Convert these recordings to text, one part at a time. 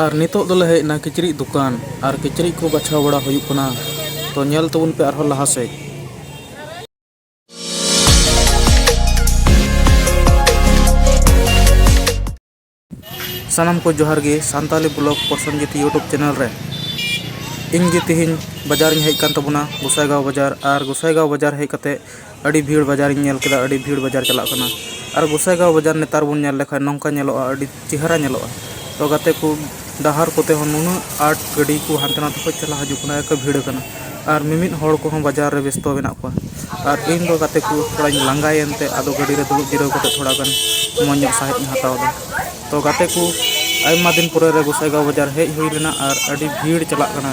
ᱟᱨ ᱱᱤᱛᱚᱜ ᱫᱚᱞᱮ ᱦᱮᱡ ᱮᱱᱟ ᱠᱤᱪᱨᱤᱡ ᱫᱚᱠᱟᱱ ᱟᱨ ᱠᱤᱪᱨᱤᱡ ᱠᱚ ᱵᱟᱪᱷᱟᱣ ᱵᱟᱲᱟ ᱦᱩᱭᱩᱜ ᱠᱟᱱᱟ ᱛᱚ ᱧᱮᱞ ᱛᱟᱵᱚᱱ ᱯᱮ ᱟᱨᱦᱚᱸ ᱞᱟᱦᱟ ᱥᱮᱫ ᱥᱟᱱᱟᱢ ᱠᱚ ᱡᱚᱦᱟᱨ ᱜᱮ Santali blog Prosenjit YouTube channel ᱨᱮ ᱤᱧ ᱜᱮ ᱛᱮᱦᱮᱧ ᱵᱟᱡᱟᱨᱤᱧ ᱦᱮᱡ ᱟᱠᱟᱱ ᱛᱟᱵᱚᱱᱟ ᱜᱚᱥᱟᱭᱜᱟᱶ ᱵᱟᱡᱟᱨ ᱟᱨ ᱜᱚᱥᱟᱭᱜᱟᱶ ᱵᱟᱡᱟᱨ ᱦᱮᱡ ᱠᱟᱛᱮᱫ ᱟᱹᱰᱤ ᱵᱷᱤᱲ ᱵᱟᱡᱟᱨ ᱤᱧ ᱧᱮᱞ ᱠᱮᱫᱟ ᱟᱹᱰᱤ ᱵᱷᱤᱲ ᱵᱟᱡᱟᱨ ᱪᱟᱞᱟᱜ ᱠᱟᱱᱟ ᱟᱨ ᱜᱚᱥᱟᱭᱜᱟᱶ ᱵᱟᱡᱟᱨ ᱱᱮᱛᱟᱨ ᱵᱚᱱ ᱧᱮᱞ ᱞᱮᱠᱷᱟᱱ ᱱᱚᱝᱠᱟ ᱧᱮᱞᱚᱜᱼᱟ ᱟᱹᱰᱤ ᱪᱮᱦᱨᱟ ᱧᱮᱞᱚᱜᱼᱟ ᱛᱚ ᱜᱟᱛᱮ ᱠᱚ ᱰᱟᱦᱟᱨ ᱠᱚᱛᱮ ᱦᱚᱸ ᱱᱩᱱᱟᱹᱜ ᱟᱸᱴ ᱜᱟᱹᱰᱤ ᱠᱚ ᱦᱟᱱᱛᱮ ᱱᱟᱛᱮ ᱠᱷᱚᱱ ᱪᱟᱞᱟᱜ ᱦᱤᱡᱩᱜ ᱠᱟᱱᱟ ᱮᱠᱮ ᱵᱷᱤᱲ ᱠᱟᱱᱟ ᱟᱨ ᱢᱤᱢᱤᱫ ᱦᱚᱲ ᱠᱚᱦᱚᱸ ᱵᱟᱡᱟᱨ ᱨᱮ ᱵᱮᱥᱛᱚ ᱢᱮᱱᱟᱜ ᱠᱚᱣᱟ ᱟᱨ ᱤᱧ ᱫᱚ ᱜᱟᱛᱮ ᱠᱚ ᱛᱷᱚᱲᱟᱧ ᱞᱟᱸᱜᱟᱭᱮᱱ ᱛᱮ ᱟᱫᱚ ᱜᱟᱹᱰᱤ ᱨᱮ ᱫᱩᱲᱩᱵ ᱡᱤᱨᱟᱹᱣ ᱠᱟᱛᱮᱫ ᱛᱷᱚᱲᱟ ᱜᱟᱱ ᱢᱚᱡᱽ ᱧᱚᱜ ᱥᱟᱸᱦᱮᱫ ᱤᱧ ᱦᱟᱛᱟᱣ ᱮᱫᱟ ᱛᱚ ᱜᱟᱛᱮ ᱠᱚ ᱟᱭᱢᱟ ᱫᱤᱱ ᱯᱚᱨᱮ ᱨᱮ ᱜᱚᱥᱟᱭᱜᱟᱶ ᱵᱟᱡᱟᱨ ᱦᱮᱡ ᱦᱩᱭ ᱞᱮᱱᱟ ᱟᱨ ᱟᱹᱰᱤ ᱵᱷᱤᱲ ᱪᱟᱞᱟᱜ ᱠᱟᱱᱟ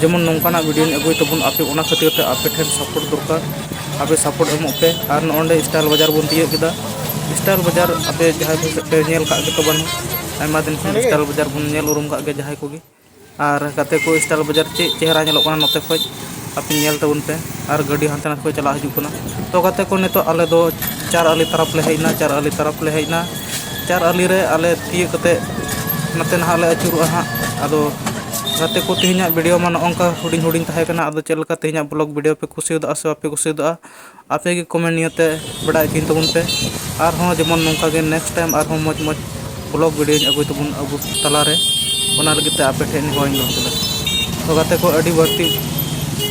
ᱡᱮᱢᱚᱱ ᱱᱚᱝᱠᱟᱱᱟᱜ ᱵᱷᱤᱰᱤᱭᱳᱧ ᱟᱹᱜᱩᱭ ᱛᱟᱵᱚᱱ ᱟᱯᱮ ᱚᱱᱟ ᱠᱷᱟᱹᱛᱤᱨ ᱛᱮ ᱟᱯᱮ ᱴᱷᱮᱱ ᱥᱟᱯᱳᱨᱴ ᱫᱚᱨᱠᱟᱨ ᱟᱯᱮ ᱥᱟᱯᱳᱨᱴ ᱮᱢᱚᱜ ᱯᱮ ᱟᱨ ᱱᱚᱜᱼᱚᱸᱰᱮ ᱥᱴᱟᱭᱤᱞ ᱵᱟᱡᱟᱨ ᱵᱚᱱ ᱛᱤᱭᱳᱜ ᱠᱮᱫᱟ ᱥᱴᱟᱭᱤᱞ ᱵᱟᱡᱟᱨ ᱟᱯᱮ ᱡᱟᱦᱟᱸᱭ ᱠᱚ ᱯᱮ ᱧᱮᱞ ᱠᱟᱜ ᱜᱮᱛᱚ ᱵᱟᱝ ᱟᱭᱢᱟ ᱫᱤᱱ ᱠᱷᱚᱱ ᱥᱴᱟᱭᱤᱞ ᱵᱟᱡᱟᱨ ᱵᱚᱱ ᱧᱮᱞ ᱩᱨᱩᱢ ᱠᱟᱜ ᱜᱮᱭᱟ ᱡᱟᱦᱟᱸᱭ ᱠᱚᱜᱮ ᱟᱨ ᱜᱟᱛᱮ ᱠᱚ ᱥᱴᱟᱭᱤᱞ ᱵᱟᱡᱟᱨ ᱪᱮᱫ ᱪᱮᱦᱨᱟ ᱧᱮᱞᱚᱜ ᱠᱟᱱᱟ ᱱᱚᱛᱮ ᱠᱷᱚᱡ ᱟᱯᱮ ᱧᱮᱞ ᱛᱟᱵᱚᱱ ᱯᱮ ᱟᱨ ᱜᱟᱹᱰᱤ ᱦᱟᱱᱛᱮ ᱱᱟᱛᱮ ᱠᱷᱚᱡ ᱪᱟᱞᱟᱜ ᱦᱤᱡᱩᱜ ᱠᱟᱱᱟ ᱛᱚ ᱜᱟᱛᱮ ᱠᱚ ᱱᱤᱛᱚᱜ ᱟᱞᱮ ᱫᱚ ᱪᱟᱨ ᱟᱞᱤ ᱛᱟᱨᱟᱯᱷ ᱞᱮ ᱦᱮᱡ ᱮᱱᱟ ᱪᱟᱨ ᱟᱞᱤ ᱛᱟᱨᱟᱯᱷ ᱞᱮ ᱦᱮᱡ ᱮᱱᱟ ᱪᱟᱨ ᱟᱞᱤ ᱨᱮ ᱟᱞᱮ ᱛᱤᱭᱳᱜ ᱠᱟᱛᱮᱫ ᱱᱚᱛᱮ ᱱᱟᱦᱟᱜ ᱞᱮ ᱟᱹᱪᱩᱨᱚᱜᱼᱟ ᱦᱟᱸᱜ ᱟᱫᱚ ᱜᱟᱛᱮ ᱠᱚ ᱛᱮᱦᱮᱧᱟᱜ ᱵᱷᱤᱰᱭᱳ ᱢᱟ ᱱᱚᱜᱼᱚ ᱱᱚᱝᱠᱟ ᱦᱩᱰᱤᱧ ᱦᱩᱰᱤᱧ ᱛᱟᱦᱮᱸ ᱠᱟᱱᱟ ᱟᱫᱚ ᱪᱮᱫ ᱞᱮᱠᱟ ᱛᱮᱦᱮᱧᱟᱜ ᱵᱞᱚᱜᱽ ᱵᱷᱤᱰᱭᱳ ᱯᱮ ᱠᱩᱥᱤᱭᱟᱫᱟ ᱥᱮ ᱵᱟᱯᱮ ᱠᱩᱥᱤᱭᱟᱫᱟ ᱟᱯᱮ ᱜᱮ ᱠᱚᱢᱮᱱᱴ ᱱᱤᱭᱮ ᱛᱮ ᱵᱟᱰᱟᱭ ᱦᱚᱪᱚᱧ ᱛᱟᱵᱚᱱ ᱯᱮ ᱟᱨᱦᱚᱸ ᱡᱮᱢᱚᱱ ᱱᱚᱝᱠᱟ ᱜᱮ ᱱᱮᱠᱥᱴ ᱴᱟᱭᱤᱢ ᱟᱨᱦᱚᱸ ᱢᱚᱡᱽ ᱢᱚᱡᱽ ᱵᱞᱚᱜᱽ ᱵᱷᱤᱰᱭᱳᱧ ᱟᱹᱜᱩᱭ ᱛᱟᱵᱚᱱ ᱟᱵᱚ ᱛᱟᱞᱟᱨᱮ ᱚᱱᱟ ᱞᱟᱹᱜᱤᱫ ᱛᱮ ᱟᱯᱮ ᱴᱷᱮᱱ ᱱᱮᱦᱚᱨ ᱤᱧ ᱫᱚᱦᱚ ᱠᱮᱫᱟ ᱛᱚ ᱜᱟᱛᱮ ᱠᱚ ᱟᱹᱰᱤ ᱵᱟᱹᱲᱛᱤ